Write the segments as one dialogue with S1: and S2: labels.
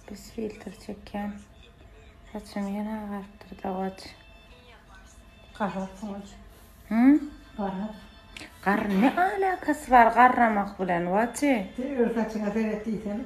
S1: Pis filtr çekýän. Saçymy ýene agarypdyr dawaç. Gara
S2: saç. Hym? Gara. Gar ne
S1: alakasy bar garramak bilen waçi? Sen öz saçyňa
S2: seret diýsene.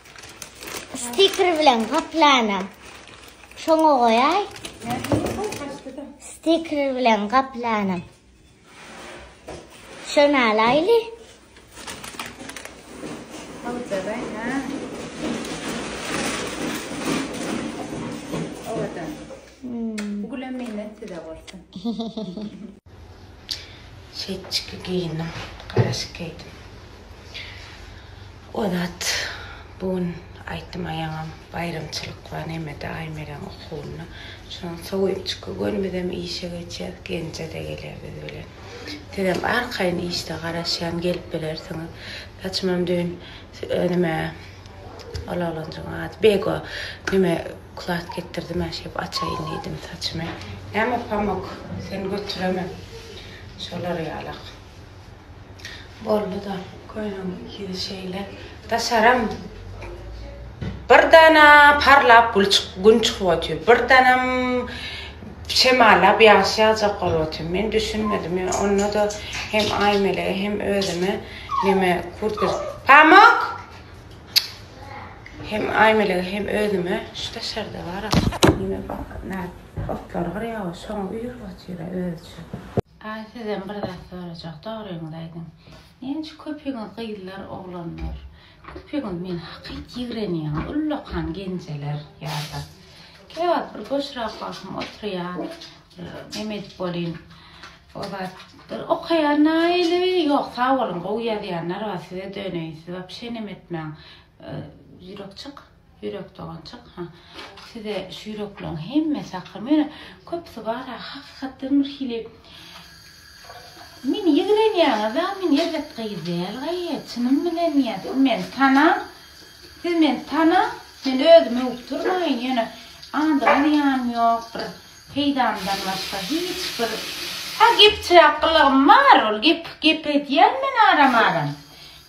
S3: Stiker bilen gaplana. Şoňa goýaý. Stiker bilen gaplana. Şöne alaýly. Owadan.
S1: Hmm. Bu gülem menden size bolsun. Çetçiki geýindim, garaşyk geýdim. O zat bu gün aýtdym aýaňam baýramçylyk bar nemede Aýmereň okuwyna. Şonuň sowunçyky gün bizem işe geçýäs, Genje-de geler biz bilen. Sizem arkaýyn işde garaşýan gelip bilersiňiz. Saçymam düýn nime Ol oglanjygyň ady Bego. Neme, kulaç getirdim-ä, şeýdip açaýyn diýdim saçymy. Näme pamok, sen götüremen. Şolar ýalak. Boldy-da, köýnegiň ikisi şeýle. Daşaram bir dana parlap gün çykyp otyr, bir danam şemallap ýagyş ýagjak bolup otyr. Men düşünmedim. Onda-da hem Aýmelege, hem özüme neme kurtka. Pamok! Hem Aýmelege hem özüme şu daşarda bar Ýene bak nä otlar gyrýawa şoňa üýrüp otyra özüçe. Aý sizden bir zat sorajak dogryňyzy aýdyň näçe köpiňiz gyzlar oglanlar köpiňiz meni hakyt ýigrenýäňiz ullakan genjeler ýada käwagt bir boşrak wagtym oturýan bir neme edip bolýyn Ozalkydyr okaýanyna ýyly ýok sag boluň gowy ýazýanlar bar size döneýin siz wapşe neme etmäň ýürekjik ýürek doganjyk ha size şu ýürekleriň hemmesi hakymy ýöne köpüsi bar ha hakykatdan bir hili meni ýigrenýäňiz a men erbet gyz däl gaýy çynym bilen ýa siz meni tanaň siz meni tanaň men özümi öwüp durmaýyn ýöne andygyňyz ýanym ýok bir Peýdamdan başga hiç bir Ha gepçiräk gylygym bar ol gep gep edýän men aram aram.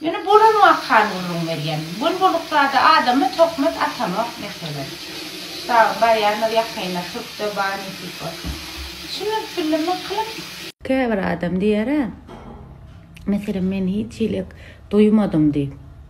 S1: Ýöne bolan wakany gürrüň berýän. Bol boluk zada adama tohmat atamok meselem. Ştabyň barýanlar ýakynda türkde bar nesip bolsa. Düşünip bildim wkylym. Käbir adam diýerä meselem men hiç hilik duýmadym diýip.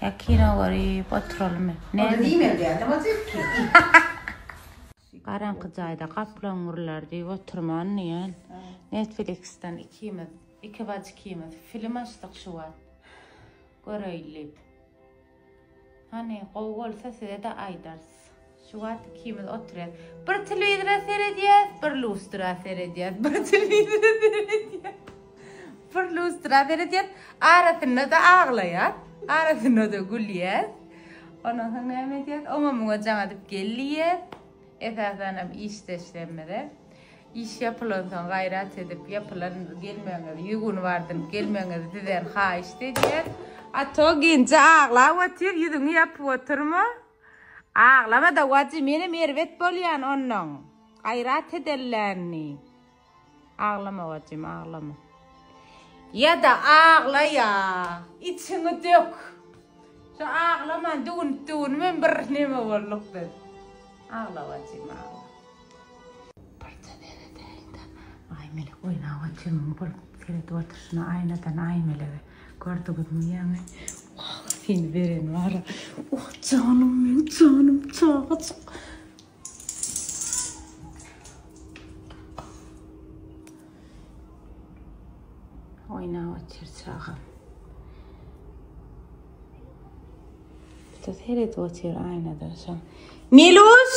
S2: Ýa kino
S1: görüp oturalymy? Onda diýmeli däl-de
S2: motiv ki.
S1: Garaňky jaýda gaplaň gürlär diýip oturman diýen. Netflix-den ikimiz, iki bajy ikimiz film açdyk şu wagt. Göreýin diýip. Hany, gowy bolsa size-de aýdarys. Şu wagt ikimiz oturýas. Bir telewizora seredýäs, bir lustra seredýäs. Bir telewizora seredýäs. Bir lustra seredýäs. Arasynda-da aglaýas. Arasynda-da gülýäs. Ondan soň näme edýäs? Oňa-muňa jaň edip gel diýýäs. Esasanam işdeşlerimize. Iş ýapylansoň gaýrat edip, ýapylan gelmegiňiz, ýüz gün bardyr, gelmegiňizi sizden haýyşt edýäs. A to genje aglap otyr, ýüzüňi ýapyp otyrma. Aglamada wajy menem erbet bolýan ondan gaýrat edellänni aglama wajym aglama. Ýada aglaýa içiňi dök şu aglaman düwünip düwünip hem bir neme bolduk biz agla wajym agla. Birje seredeýin-de, Aýmelek oýnawa jigim bolup seredip otyr şuna aýnadan Aýmelege. Gördüňizmi ýaňy? Wah, seni beren bar-a. Oh, janym meň, janym çagajyk. Oýnap otyr çagam. Birje seredip otyr aýnadan şa. Meluş!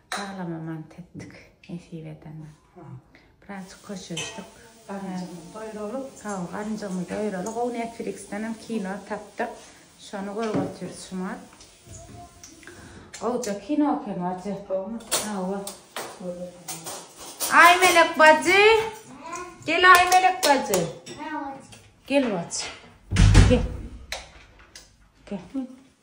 S1: Aglama mant etdik nesip edende. Birazjyk köşeşdik. Garynjymy doýuralyk. Hawa, garynjymy doýuralyk. Gowy Netflix-denem kino tapdyk. Şony görüp otyrys şumat. Gowja kino eken bajy. Gowmy? Hawa. Aý Melek bajy. Gel Aý Melek bajy. Gel bajy. Gel. Gel.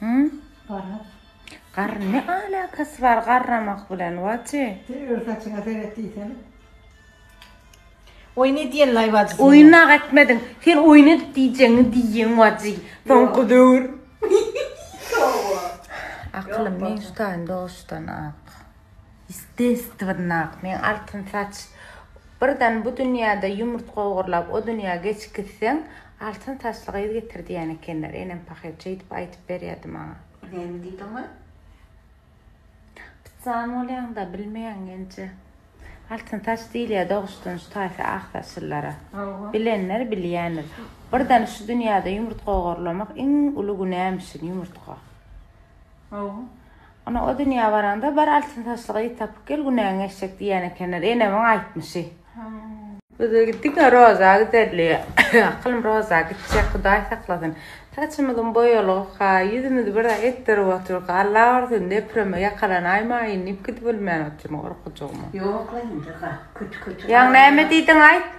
S2: Hı? Garra. Garr ne
S1: alakasy bar garramak bilen Waci? Sen öz saçyňa seret
S2: diýsene. Oýun edýän laý wajy sen. Oýun naga etmediň.
S1: Sen oýun edip diýjeňi diýýän Waci. Soňky döwür. Aklym men şutaýyn doşdan ak. Ýestestwennak, meň altyn saç. Birden bu dünýäde ýumurtga ogurlap, o dünýä geçip gitseň, altyn saçly gyz getir diýen ekenler. Enem pahyr şeýdip aýdyp berýärdi maňa. Näme diýdiň we? Pytsan bolýaň-da, bilmeýäň genje. Altyn saç diýilýär doguşdanç taýsy ak saçlylara. Hawa. Bilenler bilýändir. Birden şu dünýäde ýumurtga ogurlamak iň uly günämişin, ýumurtga. Hawa. Ana o dünýä baraňda bar altyn saçly gyz tapyp gel günäň geçjek diýýän ekenler. Enemiň aýtmyşy. Hawa. Biz gitdik Roza giderli. Akylym Roza gitjek Hudaý saklasyn. Saçymyzym boýalygyka, ýüzümizi bir zat etdirip oturyka Alla ursun depreme ýakalanaýmaýyn diýip gidip bilmän otyryn gorkujygma. Ýok-la indi ga kötü kötü.
S2: Ýaňy näme diýdiň
S1: aýt.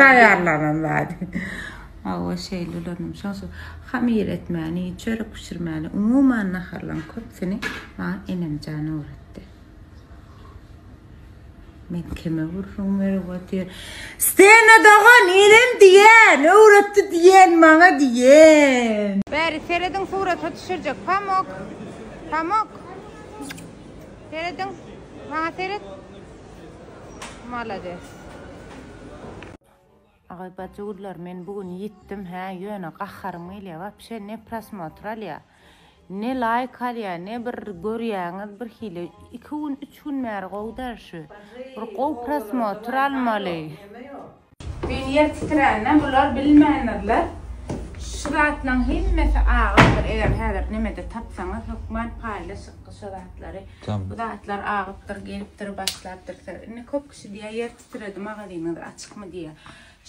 S1: Taýýarlanan zady. Hawa, şeýle ölenem. Şoň üçin hamyr etmäni, çörek bişirmäni, umuman naharlaryň köpüsini maňa enemjan öwretdi. Men kime gürrüň berip otyr. Stena dogan, enem diýen, öwretdi diýen maňa diýen. Bäri serediň surata düşürjek. Pamok. Pamok. Serediň. Maňa seret. Malades. Agay bajygullar men bu gün ýitdim hä ýöne gaharym gelýä wapşe ne prosmotr alýa ne laýk alýa ne bir görýäňiz bir hili iki gün üç gün bäri gowy däl şu bir gowy prosmotr almaly. Men ýer titrände bular bilmändirler. Şu zatlaň hemmesi agypdyr eger häzir nemede tapsaňyz hökman paýlaşyk şu zatlary. Bu zatlar agypdyr gelipdir başlapdyr söz. Indi köp kişi diýýär ýer titredi magazynyňyz açykmy diýýär.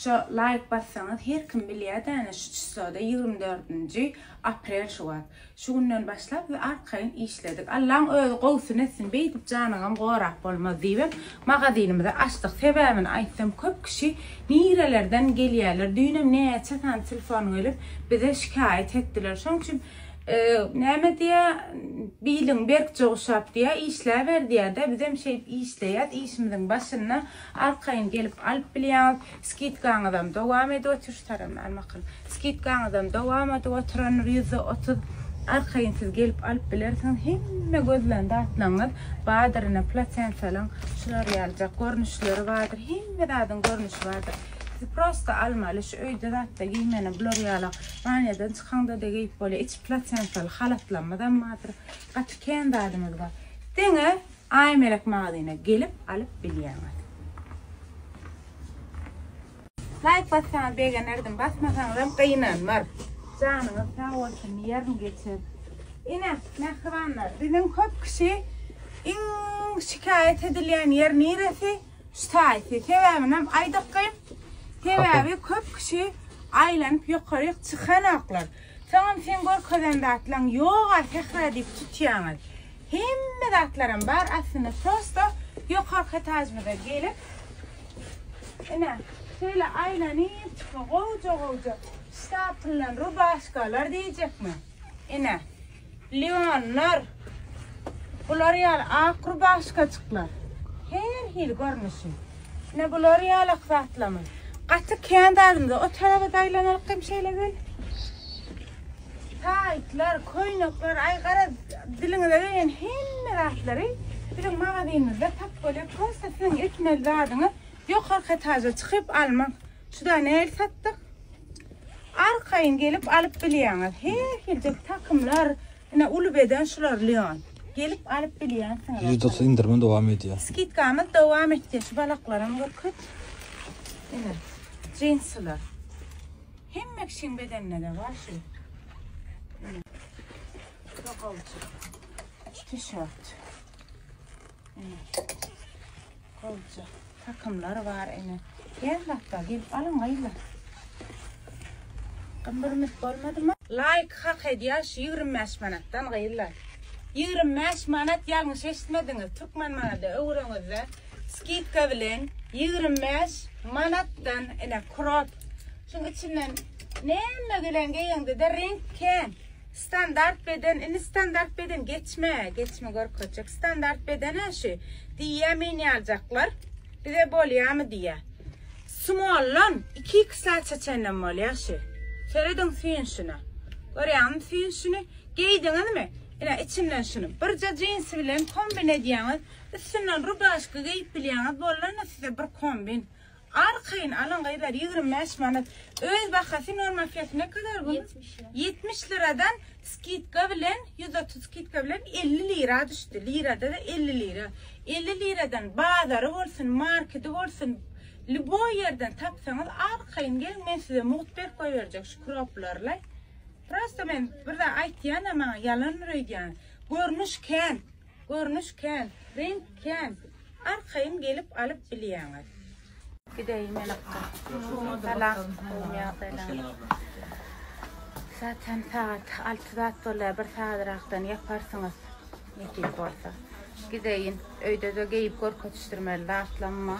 S1: Şo laýk bassaňyz her kim bilýär däne şu çysloda ýigrimi dördünji aprel şu wagt. Şu günden başlap biz arkaýyn işledik. Allaň özi gowusyny etsin, beýdip janyňam gorap bolmaz diýibem magazynymyzy açdyk. Sebäbini aýtsam köp kişi nirelerden gelýärler. Düýnem näçe sany telefon gelip bize şikaýat etdiler. Şoň üçin näme diýýär, biliň berkje guşap diýýär, işläber diýýär-de. Bizem şeýdip işleýäs, işimiziň başynda arkaýyn gelip alyp bilýäňiz. Skidkaňyzam dowam edip otyr şu taramy al makalym skidkaňyzam dowam edip otyran ýüzde otuz arkaýyn siz gelip alyp bilersiňiz hemme gözlän zatlaňyz badyr ine platensalyň şular ýalyjak görnüşleri badyr hemme zadyň görnüşi badyr siz prosta almaly şu öýde zatda geýmeli bular ýala banýadan çykaňda da geýip bolýar içi platensaly halatlarymyzam badyr gaty kän zadymyz bar deňe Aýmelek magazyna gelip alyp bilýäňiz. Laýk bassaňyz begenerdim basmasaňyzam gynanmar. Janyňyz sag bolsun ýerin geçer. Ine mähribanlar biziň köp kişi iň şikaýat edilýän ýer niresi şu saýty sebäbinem aýdykgyn sebäbi köp kişi aýlanyp ýokaryk çykanoklar. Soňam seň görkezen zatlaň ýoga sähra diýip tutýaňyz. Hemme zatlaram bar aslynda prosto ýokarky etajymyza gelip ine şeýle aýlanyp çykma gowja gowja ştapyllan rubaşkalar diýjekmi ine. Leonlar, bular ýaly ak rubaşkaçyklar, her hili görnüşi. Ine bular ýaly akzatlamyň. Gaty kän zadymyz, o tarapa daýlanalyk hem şeýle gel. Taýtlar, köýnekler, aý gara diliňize gelýän hemme zatlary biziň magazynymyzda tapyp bolýar. Prosta siziň etmeli zadyňyz ýokarky etaja çykyp almak. Şuda näil satdyk. Arkaýyn gelip alyp bilýäňiz. Her hilde takymlar, ine uly beden şular Leon. Gelip alyp bilýänsiňiz. Ýüzde indirme dowam
S4: edýär. Skidkamyz dowam
S1: etýär. Şu balaklaram görküt. Ine, jinsiler. Hemme kişiň bedenine de bar şu. Ine. Şu tişört. Ine. Goja takymlar bar ene. Her zatda gelip alyň gyzlar. Gymbyrmyt bolmadymy? Laýk hak edýär şu ýigrimi bäş manatdan gyzlar. Ýigrimi bäş manat ýalňyş eşitmediňiz türkmen manada öwüreňizde skidka bilen ýigrimi bäş manatdan ene krop şuň içinden näme bilen geýeňde-de reňk kän. Standart beden indi standart beden geçme geçme görkezjek standart bedene şu diýýä meni aljaklar bize bolýamy diýýä smollan iki iki saça çenlem bolýa şu serediň süýnşüne görýäňmi süýnşüni geýdiňizmi ine içinden şunu birje jinsi bilen kombin edýäňiz üstünden rubaşka geýip bilýäňiz bollanna size bir kombin Arkaýyn alyň gyzlar ýigrimi bäş manat öz bahasy normal fiyatı ne kadar bunun Ýetmiş lira. ýetmiş liradan skidka bilen ýüz otuz skidka bilen elli lira düşdi lirada da elli lira elli liradan bazary bolsun markedi bolsun lýuboý ýerden tapsaňyz arkaýyn geliň men size mugt berip goýberjek şu kroplarlaý prosta men bir zat aýtýan-a maňa ýalandyr öýdýän görnüş kän Görnüş kän, reňk kän. Arkaýyn gelip alyp bilýäňiz. Gideýin men okga. Salam. Zaten sagat alty zat bolýar, bir sagatrakdan ýaparsyňyz. Nesip bolsa. Gideýin. Öýde-de geýip görkezişdirmeli zatlamma.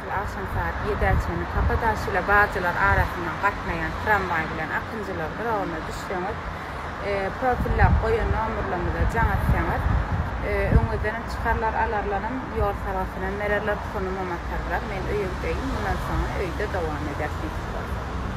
S1: Ýaşuly agşam saat ýedä çenli Kapadaş ile Bajylar arasyndan gatnaýan tramwaý bilen akynjylar duragyna düşseňiz, profillap goýan nomerlerimize jaň etseňiz, öňüňizdenem çykarlar, alarlaram, ýol salgysynam bererler, pulyňam atarlar. Men öýe gideýin, mundan soňa öýde dowam edersiňiz.